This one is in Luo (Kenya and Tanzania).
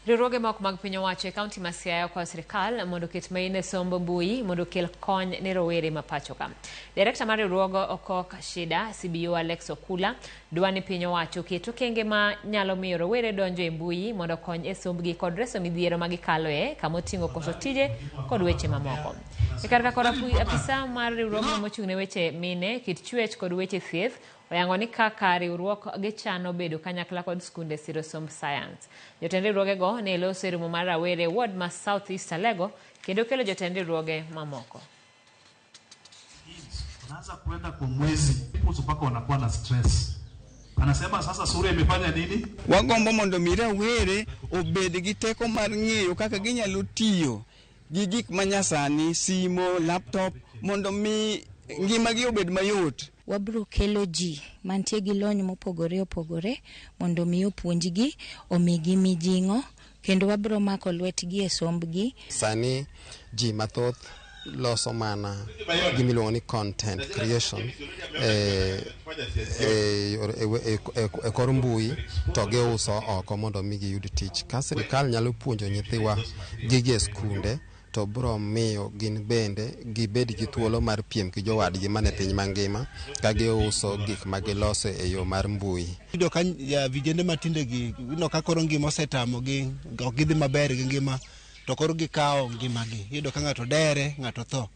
Riwruoge ma ok mag piny owacho e kaunti ma Siaya okwayo sirkal mondo oket main e somb mbui mondo okel kony ne rowere ma pachoka. Direkta mar riwruog Okok Shida CBO Alex Okula dwa ni piny owacho oket okenge ma nyalo miyo rowere donjo e mbui mondo okony e sombgi kod reso midhiero ma gikaloe kama oting'o koso tije kod weche mamoko. E kar ka kod apu- apisa mar riwruogno mochung' ne weche mine, kit chuech kod weche thieth Oyango ni kaka riwruok gi chano bedo kanyakla kod skunde siro somb sayans. Jotend riwruoge go ne loso e romo mar rawere e ward ma South East Alego kendo kelo jotend riwruoge mamoko. Unaanza kuenda kwa mwezi people mpaka wanakuwa na stress. Anasema sasa sura imefanya nini? Wagombo mondo mi rawere obed gi teko mar ng'eyo kaka ginyalo tiyo gi gik ma nyasani, simo, laptop mondo mi ngimagi obed mayot. Wabiro kelo ji mantie gi lony mopogore opogore mondo mi opuonjgi, omigi mijing'o kendo wabiro mako lwetgi e sombgi. Sani ji mathoth loso mana gimiluongo ni content creation e e, e, e, e kor mbui to giuso oko mondo mi giyud tich. Ka sirikal nyalo puonjo nyithiwa gige skunde to bro miyo gin bende gibed gi thuolo mar piem gi jowadgi mane piny mangima ka giuso gik ma giloso e yo mar mbui. Yudo ka vijende matinde gi yudo ka koro ngima osetamo gi ok gidhi maber gi ngima to koro gikawo ngimagi yudo ka ng'ato dere ng'ato tho.